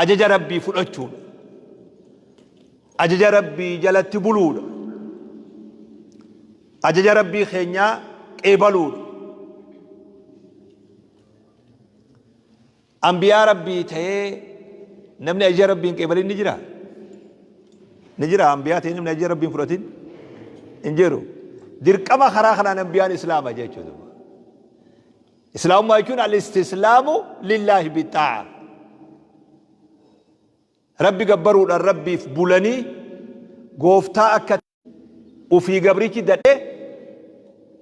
ajaja rabbii fudhachuudha ajaja rabbii jalatti buluudha ajaja rabbii keenyaa qeebaluudha ambiyaa rabbii ta'ee namni ajaja rabbii hin qeebalin ni jira ni jira ambiyaa ta'ee namni ajaja rabbii hin fudhatin hin jiru dirqama karaa kanaan ambiyaan islaama jechuudha Islaamummaa jechuun al-istislaamu lillaahi bixaa'a. Rabbi gabbaruudhaan rabbiif bulanii gooftaa akka ufii gabrichi dadhee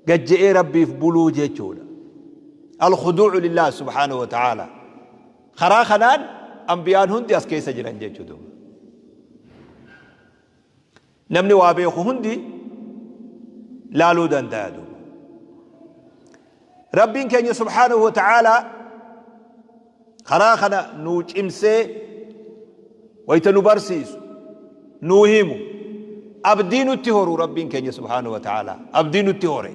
gajje'ee rabbiif buluu jechuudha. Al-khuduucu lillah subhaanahu wa ta'aala. Karaa kanaan anbiyaan hundi as keessa jiran jechuudha. Namni waa beeku hundi laaluu danda'a duuba. Rabbiin keenya subhaanahu wa ta'aalaa karaa kana nuu cimsee wayta nu barsiisu nuu himu abdii nutti horu Rabbiin keenya subhaanahu wa ta'aalaa abdii nutti hore.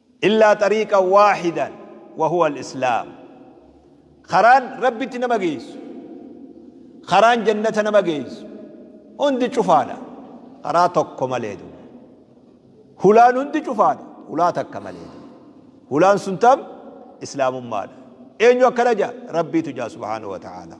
Illaa xariiqan waahidan wahuwa alislaam Karaan Rabbitti nama geessu, karaan jannata nama geessu hundi cufaadha karaa tokko malee duuba. Hulaan hundi cufaadha hulaa takka malee duuba. Hulaan sun tam? Islaamummaadha. Eenyu akkana ja'a? Rabbiitu ja'a subhaanahu wa ta'aalaa.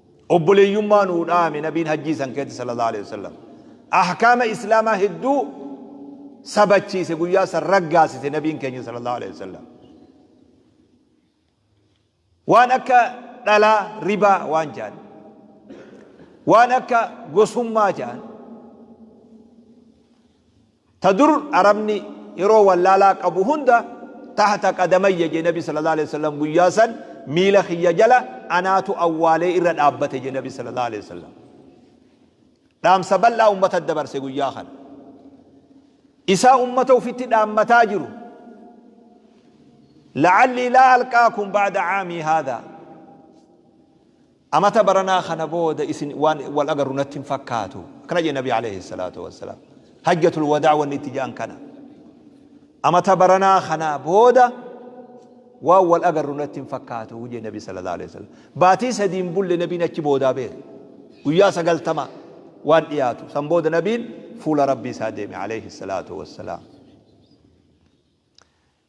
Obboleeyyummaa nuu dhaame Nabiin Hajjii san keessatti Sallallaahu Aleyhi Wasallam. Ahkaama Islaamaa hedduu sabachiise guyyaa san raggaasise Nabiin keenya Sallallaahu Aleyhi Wasallam. Waan akka dhalaa ribaa waan ja'an. Waan akka gosummaa ja'an. Ta dur Arabni yeroo wallaalaa qabu hunda tahta qadamayya je Nabi sallallahu aleyh wasallam guyyaa san miila kiyya jala anaatu awwaalee irra dhaabbate je Nabi sallallahu aleyh wasallam. Dhaamsa bal'aa ummatatti dabarse guyyaa kana. Isaa ummata ufitti dhaammataa jiru. La'allii laa alqaakum ba'da caamii haadhaa. Amata baranaa kana booda isin waan wal agarru natti hin fakkaatu. Akkana jedhe Nabii Aleeyhi Salaatu Wassalaam. Hajjatul Wadaa wanni itti ja'an kana. Amata baranaa kana booda waan wal agarru natti hin fakkaatu jedhe Nabii Sallallahu Aleeyhi Wasallam. Baatii sadiin bulle Nabiin achi boodaa beera. Guyyaa sagaltama waan dhiyaatu. San booda Nabiin fuula Rabbii isaa deeme Aleeyhi Salaatu Wassalaam.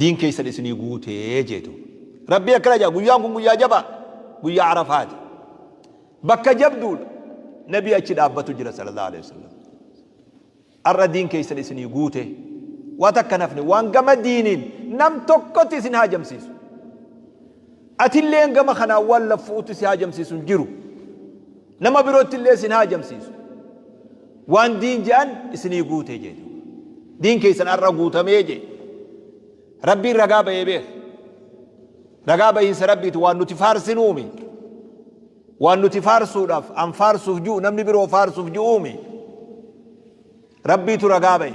Diin keessan isinii guute jee duuba. Rabbiin akkana jedha guyyaan kun guyyaa jabaa guyyaa Arafaati. Bakka jabduudha. Nabii achi dhaabbatu jira sallallahu alaihi wasallam. Har'a diin keessan isinii guute. Waa takka hin hafne waan gama diiniin nam tokkotti isin haajamsiisu. Atilleen gama kanaan waan laffu'utti si haajamsiisu hin jiru. Nama birootti illee isin haajamsiisu. Waan diin je'an isinii guute jee duuba. Diin keessan har'a guutamee jee. Rabbiin ragaa bahee beeka. Ragaa bahiinsa Rabbiiti waan nuti faarsinuumi. Waan nuti faarsuudhaaf an faarsuuf ji'u namni biroo faarsuuf ji'uumi. Rabbiitu ragaa bahe.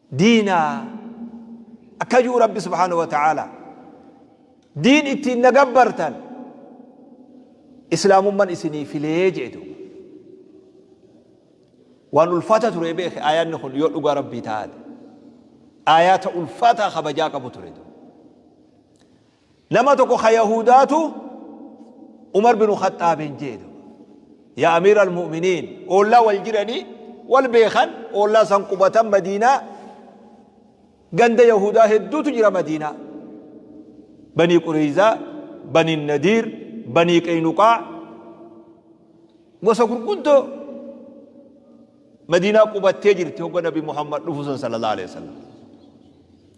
diina akka ji'u rabbi subhaanahu wa ta'aala diin ittiin na gabbartan islaamumman isinii filee jee duuba waan ulfaata ture beeke aayaanni kun yoo dhugaa rabbii taate aayaata ulfaataa kabajaa qabu ture duuba Nama tokko ka Yahudaatu Umar binu Khaxxaabiin jeedu. Yaa Amiira al-Mu'miniin oollaa wal jiranii wal beekan oollaa san qubatan Madiinaa ganda Yahudaa hedduutu jira Madiinaa. Banii Qureeyzaa, Banii Nadiir, Banii Qeynuqaa gosa gurguddoo Madiinaa qubattee jirti hogga Nabi Muhammad dhufu san sallallahu alaihi wasallam.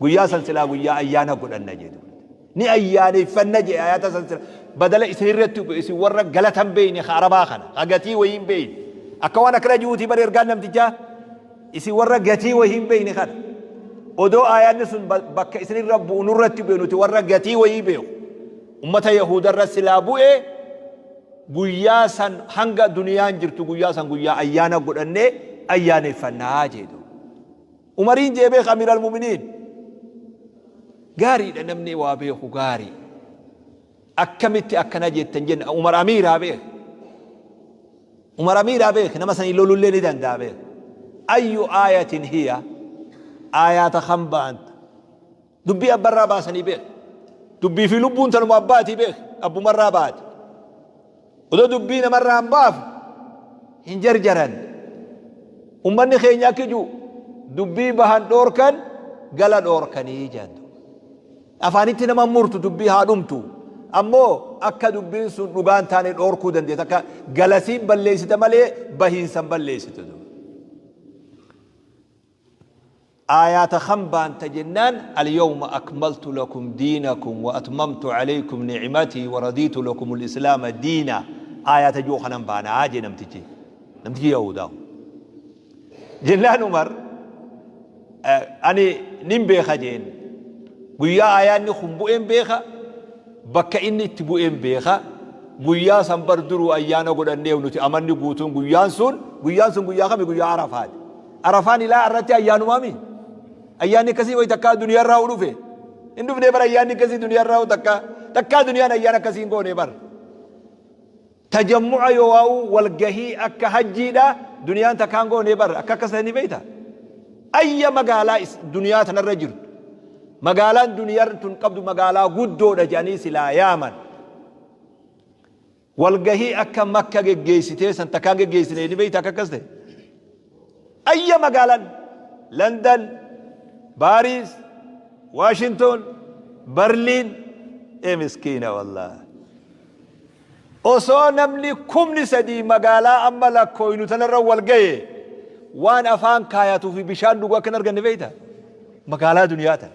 Guyyaa san silaa guyyaa ayyaana godhanna jee dubbate. Ni ayyaaneyfanna jee ayata san sila badala isin irratti bu'e isin warra galata hin beeyne ka arabaa kana ka gatii wayii hin beeyne akka waan akkana ji'uutii bar ergaan namtichaa isin warra gatii wayii hin beeyne kana odoo ayaanni sun ba- bakka isin irra bu'u nurratti bu'e nuti warra gatii wayii beeku ummata yahuuda irra silaa bu'e guyyaa san hanga duniyaan jirtu guyyaa san guyyaa ayyaana godhannee ayyaaneffannaa jee dubbate. Umariin jee beeka amiral muminiin. Gaariidha namni waa beeku gaari. Akkamitti akkana jettan jenna Umar Amiiraa beek. Umar Amiiraa beek nama sanii lolullee ni danda'a beek. Ayyu aayatin hiya aayaata kan ba'anta. Dubbii abbarraa baasanii beeka. Dubbii fi lubbuun tanuma abbaatii beeka. Abbumarraa baate. Odoo dubbii namarraa hin baafu hin jarjaran. Ummanni keenya akki jiru dubbii bahan dhoorkan gala dhoorkanii jedhu. Afaanitti nama murtu dubbii haa dhumtu. Ammoo akka dubbiin sun dhugaa hin taane dhoorkuu dandeessa. Akka galasiin balleessita malee bahiinsan balleessitu. Aayaata kam baanta jennaan Alyawma akmaltu lakum diinakum wa atmamtu alaykum ni'matii wa radiitu lakumul islaama diina aayaata ji'u kanan baana jee namtichi namtichi yahuudaa kun. Jennaan Umar ani nin beeka jeen guyyaa aayaanni kun bu'een beeka bakka inni itti bu'een beeka guyyaa san bar duruu ayyaana godhanneef nuti amanni guutuun guyyaan sun guyyaan sun guyyaa kami guyyaa arafaati. Arafaan ilaa arratti ayyaanumaa mi? Ayyaanni akkasii wayi takkaa duniyaa irraa huu dhufe. Hin dhufnee bar ayyaanni akkasii duniyaa irraa huu takkaa. Takkaa duniyaan ayyaan akkasii hin goonee bar. Tajammu'a yoo waa'u walgahii akka hajjiidha duniyaan takkaa hin goonee bar akka akkas ta'e ni beeyta. Ayya magaalaa is- duniyaa tanarra jirtu. Magaalaan duniyaan tun qabdu magaalaa guddoodha jedhanii silaa yaaman. Walgahii akka makka geggeessitee san takkaa hin geggeessine ni beeyta akka akkas ta'e? Ayya magaalan London, Paris, Washington, Berlin ee miskiina wallaah. Osoo namni kumni sadii magaalaa amma lakkooynu tanarra wal gahe waan afaan kaayatuu fi bishaan dhugu akka hin arganne beeyta? Magaalaa duniyaa tana.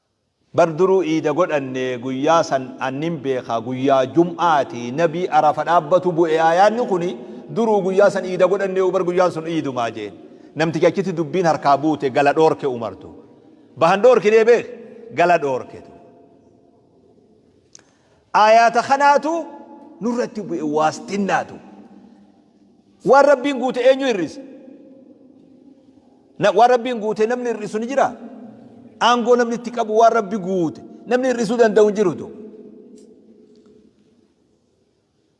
Bar duruu iida godhanne guyyaa san an nin beeka guyyaa jum'aati nabii arafa dhaabbatu bu'e aayaanni kuni duruu guyyaa san iida godhanneyu bar guyyaan sun iiduma je'en namtichi achitti dubbiin harkaa buute gala dhoorke umartu bahan dhoorkinee beek gala dhoorke Aayaata kanaatu nurratti bu'e waastinnaatu. Waan Rabbiin guute eenyu hir'isa? Waan Rabbiin guute namni hir'isu ni jira? Aangoo namni itti qabu waan Rabbi guute namni hir'isuu danda'u hin jirutu.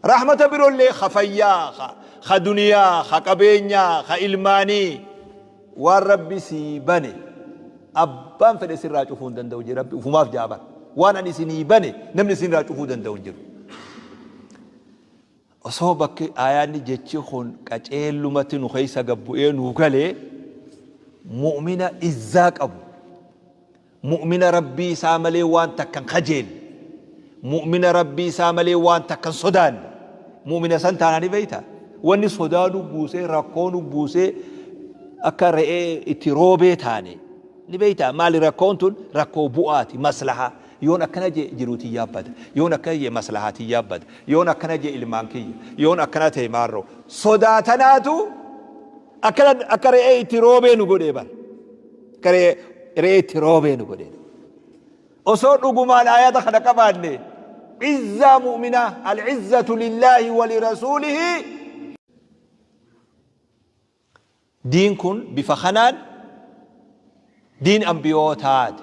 Rahmata birollee ka fayyaa, ka, ka duniyaa, ka qabeenyaa, ka ilmaanii. Waan Rabbi sii bane abbaan fedhe sirraa cufuu hin danda'u jee Rabbi ufumaaf ja'a bar. Waan ani isinii bane namni isinirraa cufuu danda'u hin jiru. Osoo bakki aayaanni jechi kun qaceellumatti nu keessa gad bu'ee nuu galee mu'mina izzaa qabu, Mu'mina Rabbii isaa malee waan takka hin kajeelle. Mu'mina Rabbii isaa malee waan takka hin sodaanne. Mu'mina san taanaa ni beeyta. Wanni sodaa nu buusee, rakkoo nu buusee, akka re'ee itti roobee taane. Ni beeyta. Maali rakkoon tun? Rakkoo bu'aati, maslahaa. Yoon akkana jee jiruu tiyyaa bada. Yoon akkana jee maslahaa tiyyaa bada. Yoon akkana jee ilmaan kiyya. Yoon akkana ta'e maarroo. Sodaa tanaatu akka re'ee itti roobee nu godhee bar. Garee re'ee itti roobee nu godhe. Osoo dhugumaan ayata kana qabaanne izzaa mu'minaa al-izzatu lillaahi wali rasuulihi diin kun bifa kanaan diin ambiyootaati.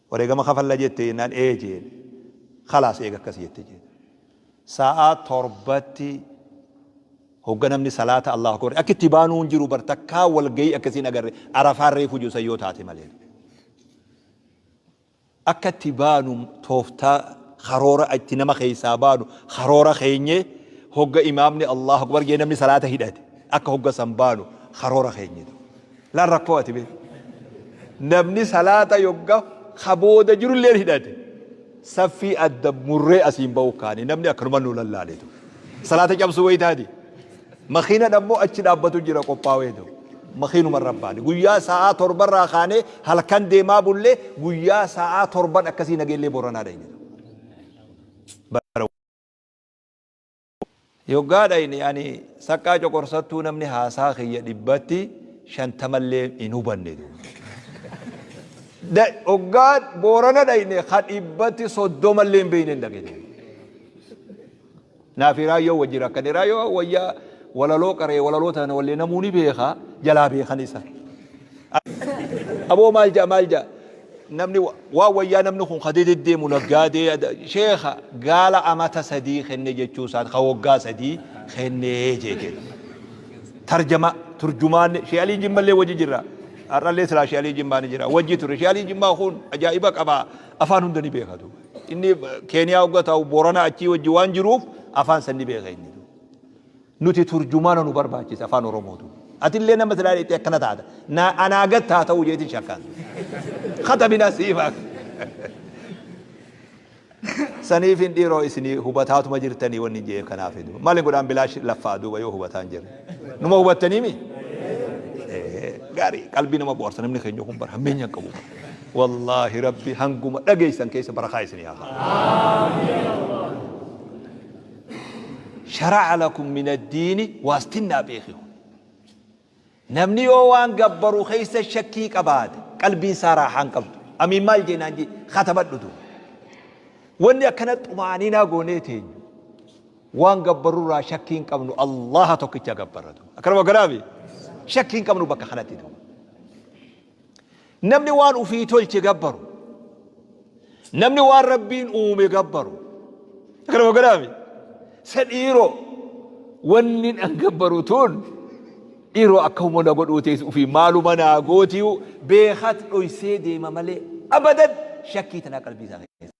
Wareegama kafalla jette jennaan ee jeene. Khalaas eega akkas jette jeene. Sa'aa torbatti hogga namni salaata Allaahu Akbar akka itti baanuu hin jiru bar takkaa walgahii akkasii hin agarre Arafaan reefu jiru san yoo taate malee. Akka itti baanu tooftaa karoora itti nama keessaa baanu karoora keenyee hogga imaamni Allaahu Akbar jee namni salaata hidhate akka hogga san baanu karoora keenye. Lal rakkoo ati mee. Namni salaata yogga ka booda jirulleen hidhate saffii adda murree asiin ba'uu kaane namni akkanuma nu lallaaleetu. Salaata cabsuu wayitaati. Makiinan ammoo achi dhaabbatu jira qophaaweetu. Makiinuma irra baane. Guyyaa sa'aa torba irraa kaanee halkan deemaa bullee guyyaa sa'aa torban akkasii nageellee booranaa dhayne. Bara Yoggaa dhayne ani saqqaa coqorsattuu namni haasaa kiyya dhibbatti shantamallee hin hubanne duuba. Hoggaa Boorana dhayne ka dhibbatti soddomallee hin beeyne hin dhage duuba. Naa fi Raayyoo wajji rakkane. Raayyoo wayyaa walaloo qaree walaloo tana wallee namuu ni beeka jalaa beekan isa. Aboo maal ja'a maal ja'a namni wa- waan wayyaa namni kun ka deddeemu naggaadee ada- sheekha gaala amata sadii kenne jechuu isaati ka waggaa sadii kennee jee kenna. Tarjama turjumaan shee alii jimmallee wajji jira. Har'allee silaa shee alii jimmaa ni jira wajji ture shee alii jimmaa kun ajaa'iba qaba afaan hunda ni beeka duuba. Inni Keeniyaa hogga ta'u Boorana achii wajji waan jiruuf afaan san ni beeka inni. Nuti turjumaana nu barbaachisa afaan oromootu. Atillee nama silaa dheettee akkana taata. Na anaa gad taa ta'uu jeetin shakkaan. Katabinaa siimaa. Saniifin dhiiroo isinii hubataatuma jirtanii wanni jeef kanaaf duuba. Maali godhaan bilaash laffaa duuba yoo hubataan jirre. Numa hubattanii mi? Gaarii qalbii nama boorsa namni keenya kun bara hammeenya hin qabu. Wallaahi rabbi hanguma dhageessan keessa barakaa isinii haa. shara'a lakum min addiini waastinnaa beeki kun namni yoo waan gabbaru keessa shakkii qabaate qalbiin isaa raaxaa hin qabdu amiin maal jeenaan jee katabadhu duuba wanni akkana xumaaninaa goonee teenyu waan gabbarurraa shakkii hin qabnu allaha tokkicha gabbarra duuba akkanuma garaami shakkii hin qabnu bakka kanatti duuba Namni waan ufii tolche gabbaru. Namni waan rabbiin uume gabbaru. Akkana magalaami. Sa dhiiroo wanni an gabbaru tun dhiiroo akka humna na godhuu teessu ufii maaluma naa gootiyu beekat dhoysee deema malee abadan shakkii tanaa qalbii isaa keessa.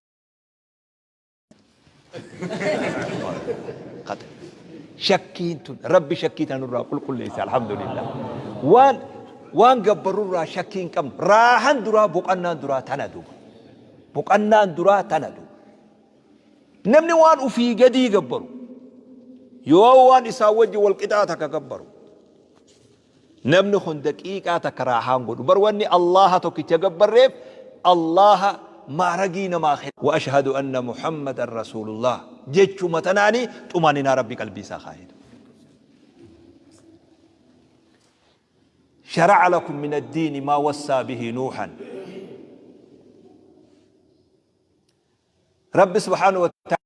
Shakkiin tun rabbi shakkii tan irraa qulqulleessa alhamdulillah. Waan waan gabbarru irraa shakkii hin qabnu raahan duraa boqannaan duraa tana duuba. Boqannaan duraa tana duuba. Namni waan ufii gadii gabbaru yoo waan isaa wajji wal qixaa takka gabbaru Namni kun daqiiqaa takka raahaa hin godhu. Bar wanni Allaaha tokkicha gabbarreef Allaaha ma'aragii namaa kenna. Wa ashhadu anna Muhammadan Rasuulullaah jechuma tanaani xumaaninaa Rabbi qalbii isaa kaaye. Shara'a lakum min ad-diini maa wassaa bihi Nuuhan. Rabbi subhaanahu wa ta'aalaa.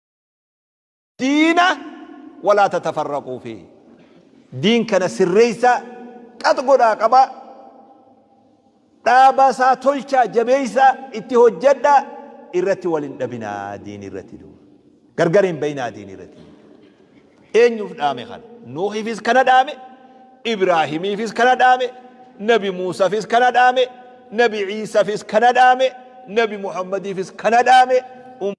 diina walaa tatafarraquu fi diin kana sirreessaa qat godhaa qabaa dhaabaa isaa tolchaa jabeessaa itti hojjedhaa irratti wal hin dhabinaa diin irratti gargar hin bayinaa diin irratti Eenyuuf dhaame kana? Nuuhiifis kana dhaame, Ibraahimiifis kana dhaame, Nabi Muusafis kana dhaame, Nabi Iisafis kana dhaame, Nabi Muhammadiifis kana dhaame.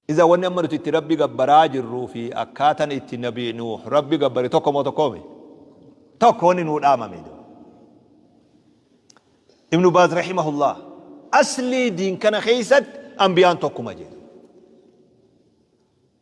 Iza wanni amma nuti itti Rabbi gabbaraa jirruu fi akkaatan itti Nabi Nuuh Rabbi gabbare tokko moo tokkoo mi? Tokko wanni nuu dhaamame. Ibnu Baaz rahimahullah aslii diin kana keessatti anbiyaan tokkuma jedhe.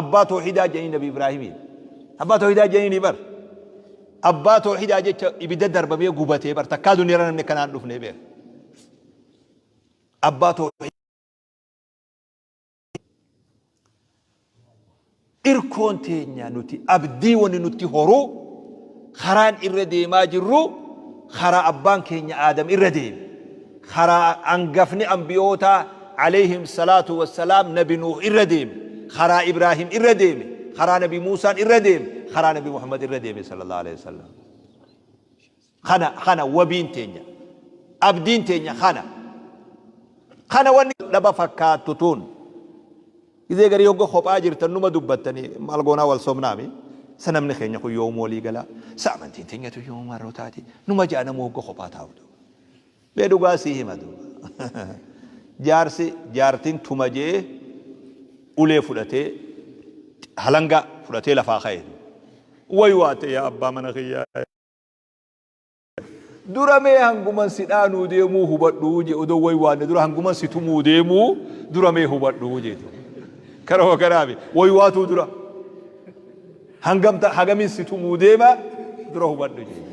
Abbaa toohidaa jedhanii nabi Ibraahimiin. Abbaa toohidaa jedhanii bar. Abbaa toohidaa jecha ibidda darbamee gubatee bar takkaa duniyaarra namni kanaan dhufnee beeka. Abbaa toohidaa. Irkoon teenya nuti abdii wanni nutti horuu Karaan irra deemaa jirru karaa abbaan keenya Aadam irra deeme. Karaa angafni anbiyootaa, aleyhim salaatu wassalaam, nabi Nuuh irra deeme. Karaa Ibraahim irra deeme. Karaa nabi Muusaan irra deeme. Karaa nabi Muhammad irra deeme sallallahu aleyhi wassallam. Kana, kana wabiin teenya. Abdiin teenya kana. Kana wanni dhaba fakkaattu tun. Gizee garii hogga kophaa jirtan numa dubbattani maal goonaa wal sobnaami sa namni keenya kun yoom walii gala sa amantiin teenyatu yoom marroo taati numa ja'a namuu hogga kophaa taa'u dha mee dhugaa sii hima duuba jaarsi jaartin tuma je'ee ulee fudhatee halangaa fudhatee lafaa ka'e duuba way waatte yaa abbaa mana kiyyaa Dura mee hanguman si dhaanuu deemuu hubadhuu je odoo way waanne dura hanguman si tumuu deemuu dura mee hubadhuu jeeti. Kara hoo karaami way waatuu dura hangamta hagamin si tumuu deema dura hubadhu jeeti.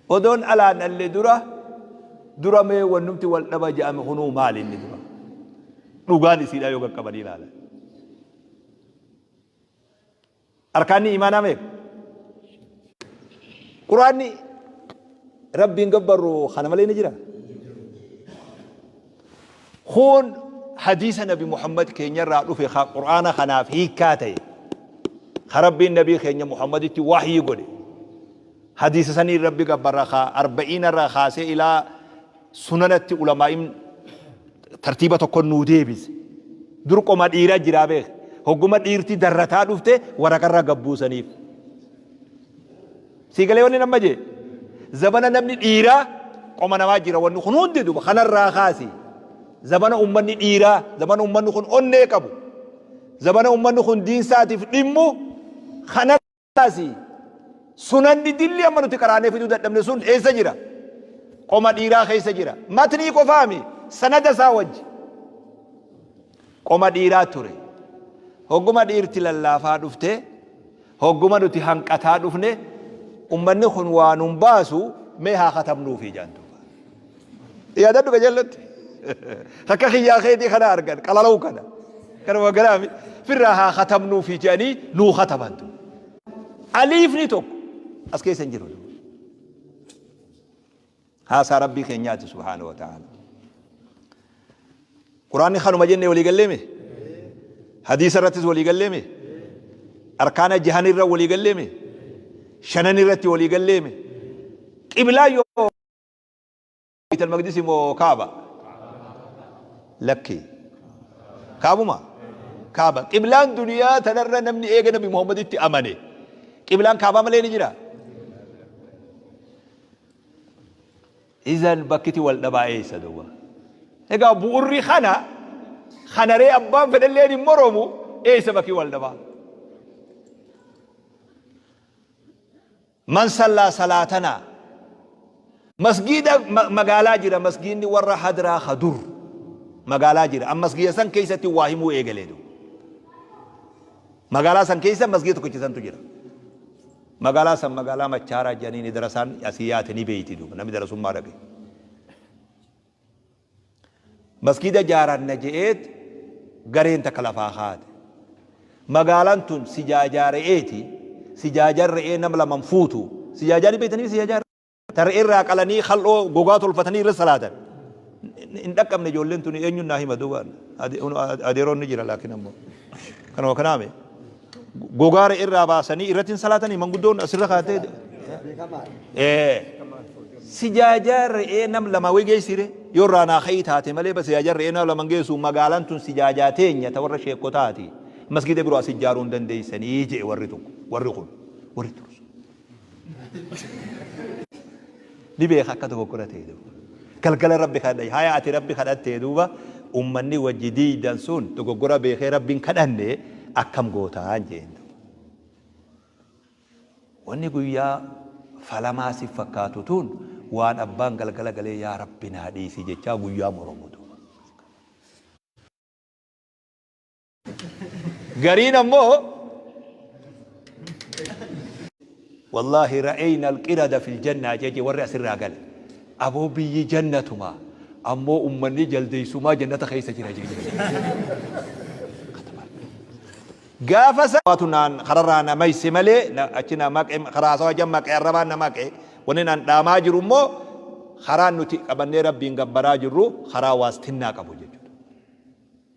Odoon alaan dhalle dura dura mee wannumti wal dhaba ja'ame kunuu maali inni dura. Dhugaan isiidhaa yoo qaqqabanii ilaalan. Arkaanni iimaanaa meeqa? Qur'aanni Rabbiin gabbarru kana malee ni jira? Kun hadiisa Nabi Muhammad keenyarraa dhufe ka Qur'aana kanaaf hiikkaa ta'e ka Rabbiin Nabii keenya Muhammaditti wahyii godhe hadiisa saniin Rabbi gabbarra ka arba'iinarraa kaasee ilaa sunanatti ulamaa'iin tartiiba tokkon nuu deebise. Dur qoma dhiiraa jiraa beek. Hogguma dhiirti darrataa dhufte waraqarraa gad buusaniif. Sii galee wanni nama jee? Zabana namni dhiiraa qoma namaa jira wanni kun hundi duba kanarraa kaasi. Zabana ummanni dhiiraa, zabana ummanni kun onnee qabu, zabana ummanni kun diinsaatiif dhimmu kana Asi sunanni dilli amma nuti qaraanee fiduu dadhabne sun eessa jira? Qoma dhiiraa keessa jira. Matnii qofaami sanada isaa wajji. Qoma dhiiraa ture. Hogguma dhiirti lallaafaa dhufte, hogguma nuti hanqataa dhufne, ummanni kun waan nun baasu mee haa katabnuufi jaan duuba. Yaadadhu qajeelatti. Takka kiyyaa keetii kana argan qalalau kana. Kanuma garaami firraa haa katabnuu fi jedhanii nuu katabantu. Aliifni tokko as keessa hin jiru. Haasaa Rabbii keenyaati subhaanahu wa ta'ala. Quraanni kanuma jennee walii galleeme? Hadiisa irrattis walii galleeme? Arkaana jahan irra walii galleeme? Shanan irratti walii galleeme? Qiblaa yoo Beeytal Maqdisi moo Kaaba? Lakkii. Kaabuma? Kaaba. Qiblaan duniyaa tanarra namni eega Nabi Muhammaditti amane qiblaan Kaabaa malee ni jira? Izan bakkiti wal dhabaa eessa duuba? Egaa bu'urri kana kanaree abbaan fedhalleen hin moroomu eessa bakki wal dhabaa? Man sallaa salaatanaa Masgiida magaalaa jira masgiidni warra hadraa ka dur magaalaa jira an masgiida san keessatti waa himuu eegalee du magaalaa san keessa masgiida tokkicha santu jira magaalaa san magaalaa machaaraa jedhanii ni darasaan asii yaate ni beeyti du namni darasummaa dhaqe Masgiida jaaranna je'eet gareen takka lafaa kaate. Magaalaan tun sijaajaa re'eeti. Sijaajaan re'ee nama lama hin fuutu. Sijaajaa ni beeytanii sijaajaa re'ee? Ta re'ee irraa qalanii kal'oo gogaa tolfatanii irra salaatan. Hin dhaqqabne ijoolleen tuni eenyuun naa hima duuba adeeroon ni jira laakiin ammoo kanuma kanaami. gogaa re'ee irraa baasanii irratti hin salaatanii manguddoon asirra kaatee ee sijaajaa re'ee nam lama wayii geessire yoo irraa naa ka'ii taate malee bas sijaajaa re'ee nam lama hin geessu magaalaan tun sijaajaa teenya ta warra sheekotaati masgiida biroo as ijaaruu hin dandeessanii jee warri tokko warri kun warri tursu. ni beeka akka dogoggora ta'e duuba. Galgala rabbi kadhadha. Haya ati rabbi kadhattee duuba ummanni wajji diidan sun dogoggora beekee rabbiin kadhanne akkam gootaan jeen duuba. Wanni guyyaa falamaa si fakkaatu tun waan abbaan galgala galee yaa rabbi naa dhiisi jechaa guyyaa moromu duuba. gariin ammoo wallaahi ra'ayna alqirada fil jannaa jeje warri asirraa gale aboo biyyi jannatuma ammoo ummanni jaldeessumaa jannata keessa jira jeje gaafa saatu naan kararraa na mayse malee achi na maqe karaa sawa jan maqe arrabaan na maqe wanni naan dhaamaa jiru immoo karaan nuti qabannee rabbiin gabbaraa jirru karaa waastinnaa qabu jechuudha